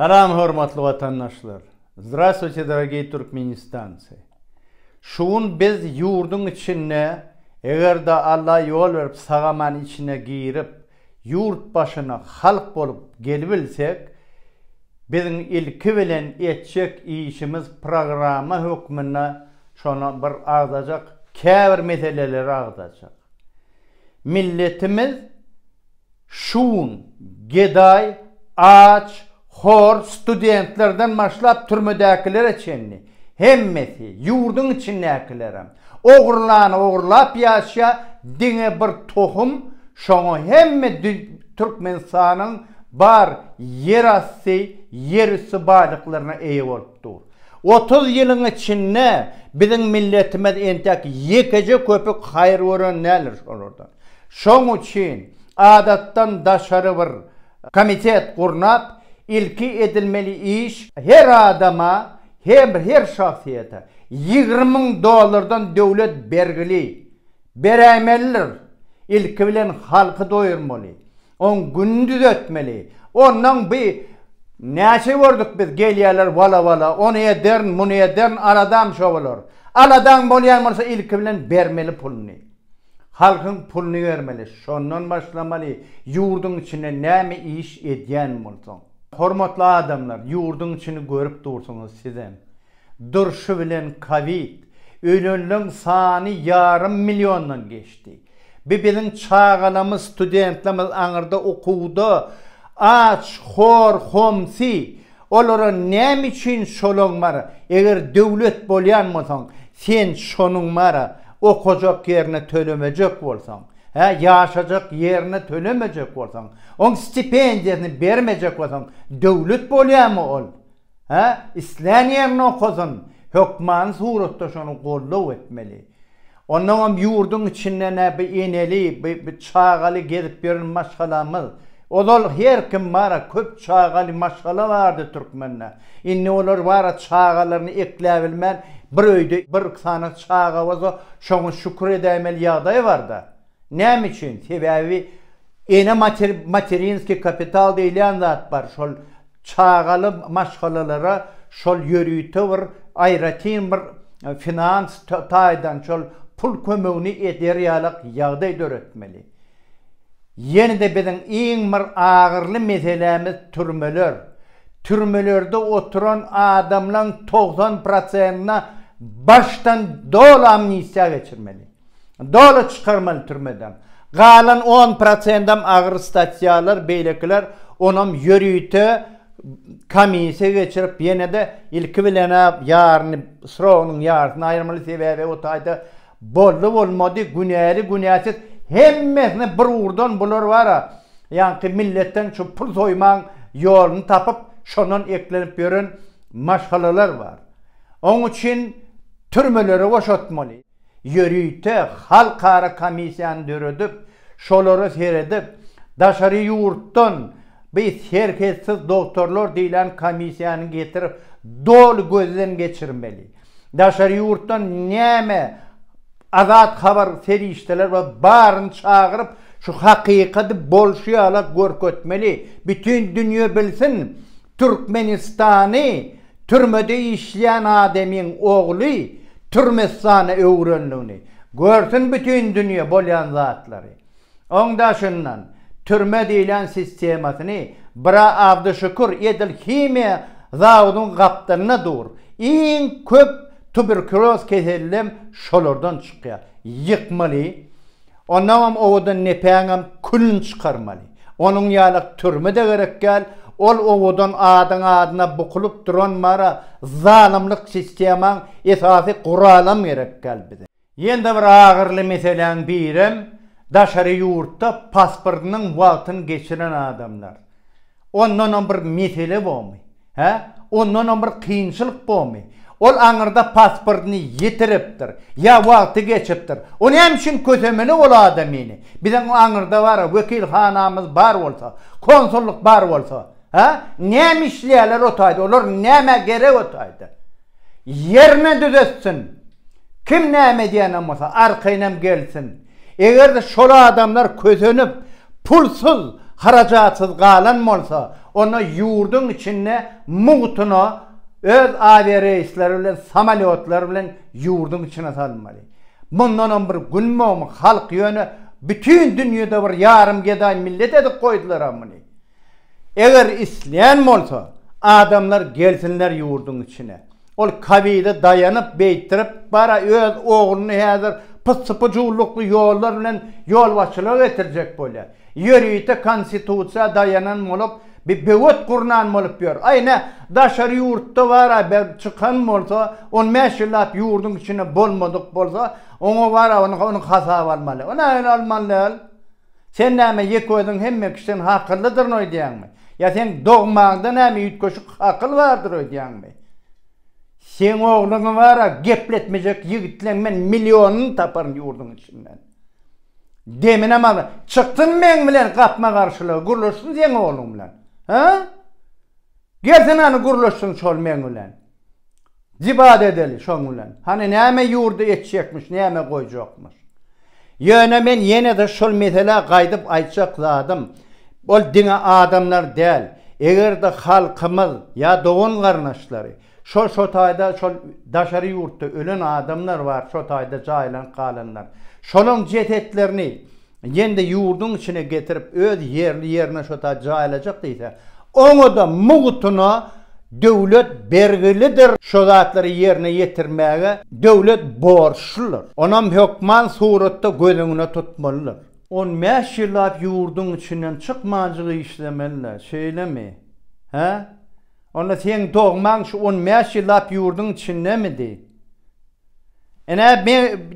Salam hormatly watandaşlar! Zdravstvuyte dorogiý Türkmenistancy! Şu gün biz ýurduň içinde eger-de Alla ýol berip sagaman içine girip ýurt başyna halk bolup gelibilsek biziň ilki bilen etjek işimiz programma hökmünde şona bir agzajak käbir meseleleri agzajak. Milletimiz Şun, gedaý, aç, hor, studentlerden başlap türmedäkilere çenli, hemmesi, ýurduň içindäkilerem, ogrulany ogrulap ýaşýar, diňe bir tohum, şoňa hemme Türkmenistanyň bar ýerasty, ýerüsti baýlyklaryna eýe bolup dur. Otuz ýylyň içinde biziň milletimiz entek ýekeje köpük haýyr gören däldir şolardan. Şoň üçin adatdan daşary bir komitet gurnap, ilki edilmeli iş her adama hem her şahsyýete ýigrimi müň dollardan döwlet bergili beräýmelidir. Ilki bilen halky doýurmaly, oň gününi düzetmeli. Onnoň bi näçe gördük biz gelýärler wala-wala, ony ederin, muny ederin, aladam şo bolar. Aladaň bolýan bolsa ilki bilen bermeli puluny. Halkyň puluny bermeli şondan başlamaly ýurdyň içinde näme iş edýän bolsaň. Hormatly adamlar ýurdyň içini görüp dursuňyz sizem. Durşy bilen kowid ölenleň sany ýarym milliondan geçdi. Bi biziň çagalamyz studentlamyz aňyrda okuwda aç hor homsi Olara näme üçin şolaň bar, eger döwlet bolýan bolsaň, sen şonuň bar, okajak ýerine tölemejek bolsaň, hä, ýaşajak ýerine tölemejek bolsaň, oň stipendiýasyny bermejek bolsaň, döwlet bolýarmy ol? Hä, islän ýerinde okasyn, hökmany suratda şony goldaw etmeli. Onnoňam ýurduň içinde nä bi eneli, bi bi çagaly gezip ýören maşgalamyz. Ozal her kim bar-a, köp çagaly maşgala bardy türkmende. Indi olar bar-a çagalaryny ekläbilmän, bir öýde bir sany çaga bolsa, şoňa şükür edäýmeli ýagdaý bar-da. Näme üçin? Sebäbi ene mater materinskiý kapital diýilýän zat bar. Şol çagaly maşgalalara şol ýörite bir aýratyn bir finans taýdan şol pul kömegini eder ýalak ýagdaý döretmeli. Ýene-de biziň iň bir agyrly meselämiz türmeler. Türmelerde oturan adamlaň togsan prosentine başdan doly amnistiýa geçirmeli. Doly çykarmaly türmeden. Galan on prosendem agyr statýalar, beýlekiler onam ýörite komisiýa geçirip, ýene-de ilki bilen-ä ýaryny, srogynyň ýarysyny aýyrmaly, sebäbi o taýda boldy-bolmady, günäli-günäsiz hemmesini bir ugurdan bular bar-a, ýaňky milletden şu pul soýmagyň ýoluny tapyp, şondan eklenip ýören maşgalalar bar. Oň üçin türmelere boşatmaly. ýörite halkara komissiýany döredip, şolara seredip, daşary ýurtdan bi Serhetsiz dogtorlar diýlen komissiýany getirip, doly gözden geçirmeli. Daşary ýurtdan näme azat habar serişdeler bar, baryny çagyryp, şu hakykaty bolşy ýala görkezmeli, bütin dünýe bilsin, Türkmenistany Türmede işleýän ademyň ogly Türmestana öwrendigini, görsün bütin dünýe bolýan zatlary. Oň daşyndan türme diýlen sistemasyny bra Abdyşükür edil himiýa zawodyň gapdalynda dur. Iň köp tuberkuloz kesellem şolardan çykýar. Ýykmaly. Ondaňam owadan nepäňem külüni çykarmaly. Onuň ýaly türme-de gerek däl, ol owadan adyň adyna bukulyp duran mara zalymlyk sistemaň esasy guralam gerek däl bize. Ýene-de bir agyryly meseläň birem daşary ýurtda pasportynyň wagtyny geçiren adamlar. Ondanam bir mesele bomy? Hä? Ondanam bir kynçylyk bomy? Ol aňyrda pasportyny ýitiripdir. Ýa wagty geçipdir. O näme üçin kösemeli ol adamyny? Biziň aňyrda bar-a, wekilhanamyz bar bolsa, konsullyk bar bolsa, hä? Näme işleýärler o taýda? Olar nämä gerek o taýda? Ýerine düzetsin! Kim näme edýänem bolsa, arkaýynam gelsin! Eger-de şol adamlar kösenip, pulsuz, harajatsyz galan bolsa, onda ýurduň içinde mugtuna öz awiareýsleri bilen, samolýotlar bilen ýurduň içine salmaly. Mundanam bir gün mogmy halk ýöne bütin dünýede bir ýarym gedaý millet edip goýdular-a muny. Eger isleýän bolsa, adamlar gelsinler ýurduň içine. Ol kabile daýanyp, beýtdirip, bara öz ogluny häzir pyssy-pyjuwlukly ýollar bilen ýolbaşçylyga getirjek bolýar. Ýörite konstitusiýa daýanan bolup, bir böwet gurnan bolup ýör. Aý, ine, daşary ýurtda bara bir çykan bolsa, on bäş ýyllap ýurduň içinde bolmadyk bolsa, oňa bara onuň hasaby almaly. Ine, ol almaly däl. Sen näme ýeke özüň hemme kişiden hakyllydyryn öýdýäňmi? Ýa seň dogmaňda näme üýtgeşik hakyl bardyr öýdýäňmi? Seň ogluňy bar-a gepletmejek ýigitleň men millionyny taparyn ýurduň içinden. Deminem al, çyksyn meň bilen gapma-garşylyga, gürleşsin seň ogluň bilen. Hä? Gelsene hany gürleşsin şol meň bilen. Dibad edeli şoň bilen. Hany näme ýurdy etjekmiş näme goýjakmyş. Ýöne men ýene-de şol meselä gaýdyp aýtjak zadym, ol diňe adamlar däl, eger-de halkymyz ýa dogan-garyndaşlary, şol şo taýda şol daşary ýurtda ölen adamlar bar şo taýda jaýlanyp galanlar. Şolaň jesetlerini Ýende ýurduň içine getirip öz ýerli ýerine şota jaýlajak diýse, oňada mugtuna döwlet bergilidir şo zatlary ýerine ýetirmäge döwlet borçludyr. Onam hökman suratda göz öňüne tutmalydyr. On bäş ýyllap ýurduň içinden çykmanjyk işlemeli-dä, şeýlemi? Hä? Onda seň dogmaň şu on bäş ýyllap ýurduň içindemidi? Ine,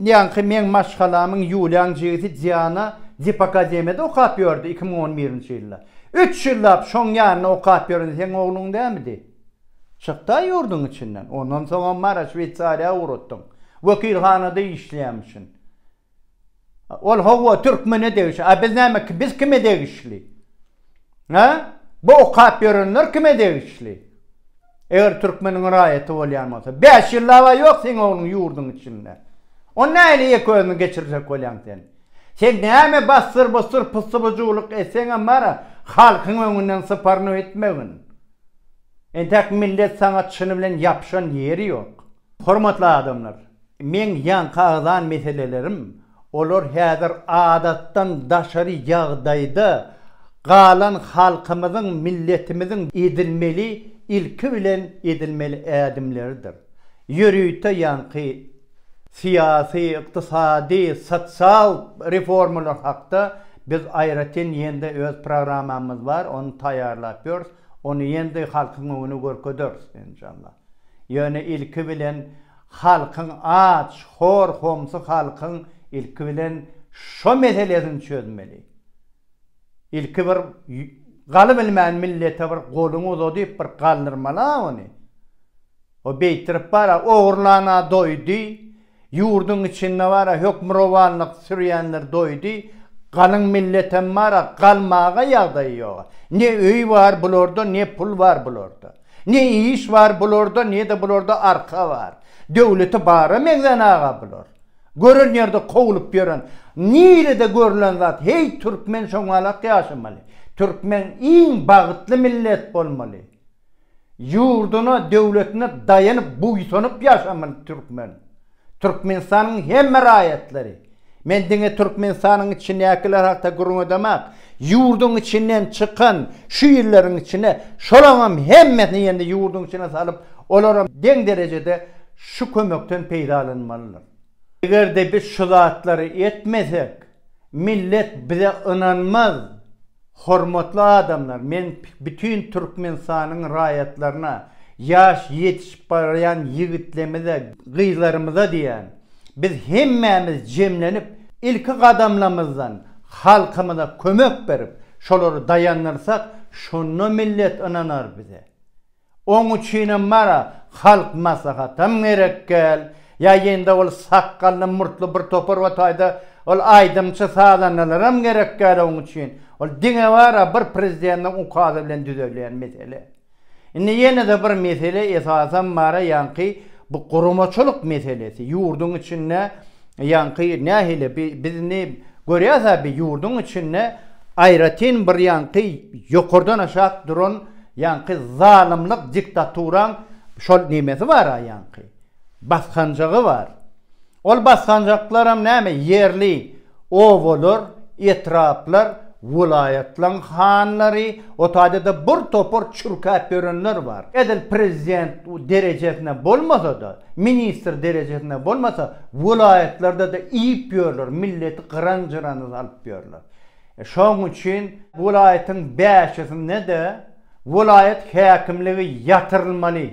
ýaňky meň maşgalamyň Ýuliýaň jigisi Diana Dipakademiýada okap ýördi, iki müň on birinji ýylda. Üç ýyllap şoň ýanynda okap ýören seň ogluň dälmidi? Çykda ýurduň içinden. Ondan soňam Mara, Şweýsariýa ugratdyň. Wekilhanada işleýämişin. Ol hawa türkmene degişli. A biz näme biz kime degişli? Hä? Bu okap ýörenler kime degişli? Eger türkmeniň raýaty bolýan bolsa. Bäş ýyllaba ýok seň ogluň ýurduň içinde. Ony nähili ýeke özüni geçirjek bolýaň sen? Sen näme bassyr bussyr pyssybyjuwlyk etseňem bara halkyň öňünden syparynyp etmegin. Entäk millet saňa çyny bilen ýapyşan ýeri ýok. Hormatly adamlar! Meň ýaňkagzan meselelerim, olar häzir adatdan daşary ýagdaýda galan halkymyzyň, milletimiziň edilmeli, ilki bilen edilmeli ädimleridir. Ýörite ýaňky syýasy, ykdysady, sosial reformalar hakda biz aýratyn ýene-de öz programmamyz bar, ony taýýarlap ýörüs, ony ýene-de halkyň öňüne görkezers, enşalla. Ýöne ilki bilen Halkyň aç, hor, homsy halkyň ilki bilen şo meselesini çözmeli. Ilki bir galy bilmän millete bir goluňy uzadyp bir galdyrmaly-a ony. O beýtirip bar-a ogurlan-a doýdy, ýurduň içinde bar-a hökmürowanlyk sürýänler doýdy, galyň milletem bar-a galmaga ýagdaýy ýog-a. Ne öý bar bularda, ne pul bar bularda. Ne iş bar bularda nede bularda arka bar. Döwleti bara meňzän aga bular. Gören ýerde kowlup ýören. Nirede görlen zat heý türkmen şoňalak ýaşamaly. Türkmen iň bagytly millet bolmaly. Ýurduna döwletine daýanyp buýsanyp ýaşamaly türkmen. Türkmenistanyň hemme raýatlary, men diňe Türkmenistanyň içindäkiler hakda gürrüň edemak, ýurduň içinden çykan şu ýyllaryň içinde şolaňam hemmesini ýene-de ýurduň içine salyp, olaram deň derejede şu kömekden peýdalanmalydyr. Eger-de biz şu zatlary etmesek, Millet bize ynanmaz. Hormatly adamlar men bütin Türkmenistanyň raýatlaryna ýaş ýetişip barýan ýigitlemize gyzlarymyza diýýän biz hemmämiz jemlenip ilki gadamlamyzdan halkymyza kömek berip şolary daýandyrsak şonda millet ynanar bize. Oň üçinem bara halk maslahatam gerek gel, ýa ýende ol sakgally murtly bir topar we taýda ol aýdymçy sazandalaram gerek gel oň üçin, ol diňe bara bir prezidentiň ukazy bilen düzelýän mesele. Indi ýenede bir mesele esasam bara ýaňky bu guramaçylyk meselesi, ýurduň içinde Ýaňky nähili bi bizni görýäs-ä bi ýurduň içinde aýratyn bir ýaňky ýokardan aşak duran ýaňky zalymlyk diktaturaň şol nemesi bar-a ýaňky basganjagy bar. Ol basganjaklaram näme ýerli obalar, etraplar, welaýatlaň hanlary, o taýda-da bir topar çürkäp ýörenler bar. Edil prezident derejesine bolmasa-da, ministr derejesinde bolmasa welaýatlarda-da iýip ýörler milleti gyran-jyrana salyp ýörler. Şoň üçin welaýatyň bäşisinde-de welaýat häkimligi ýatyrylmaly.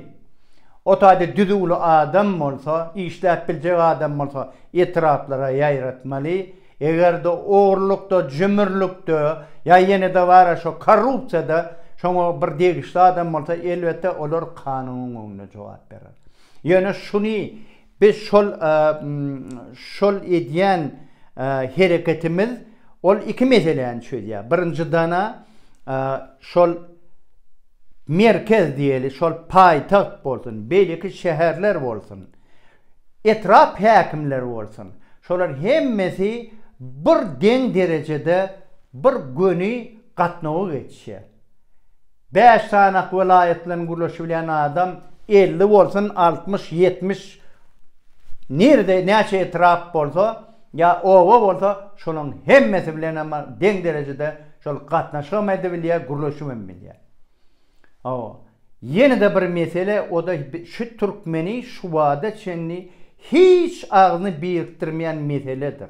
O taýda düzüwli adam bolsa, işläp biljek adam bolsa etraplara ýaýratmaly. Eger-de ogrulykda, jümürlikde ýa ýene dabara şo korrupsiýada şoňa bir degişli adam bolsa elbetde olar kanunyň öňünde jogap berer. Ýöne şuny biz şol şol edýän hereketimiz ol iki meseläni çözýär. Birinjidana şol merkez diýeli şol paýtagt bolsun, beýleki şäherler bolsun, etrap häkimleri bolsun, şolar hemmesi bir deň derejede bir göni gatnawa geçýär. Bäş sanak welaýatdan gürleşibilýän adam elli bolsun altmyş ýetmiş nirede näçe etrap bolsa ýa oba bolsa şolaň hemmesi bilenem deň derejede şol gatnaşygam edebilýä gürleşibem bilýä hawa ýenede bir mesele oda şu türkmeni şubada çenli hiç agzyny birikdirmeýän meseledir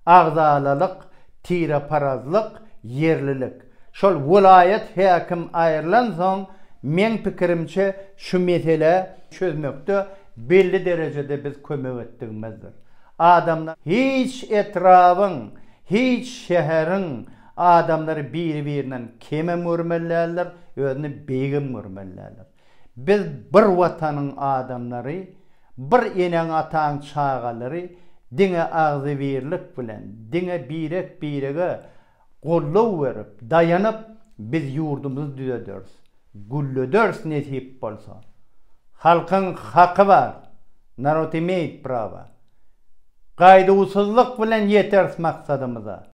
Agzalalyk, tireparazlyk, ýerlilik. Şol welaýat häkim aýrylansoň, meň pikirimçe, şu meselä çözmekde belli derejede biz kömek etdigimizdir. Adamlar hiç etrabyň, hiç şäheriň adamlary biri-birinden kemem görmeli däldir, özüni beýigem görmeli däldir. Biz bir watanyň adamlary, bir eneň-ataň çagalary diňe agzybirlik bilen, diňe birek-birege goldaw berip, daýanyp biz ýurdumyzy düzederis, güllederis nesip bolsa. Halkyň haky bar, narod imeýt prawa. Gaýduwsyzlyk bilen ýeteris maksadymyza.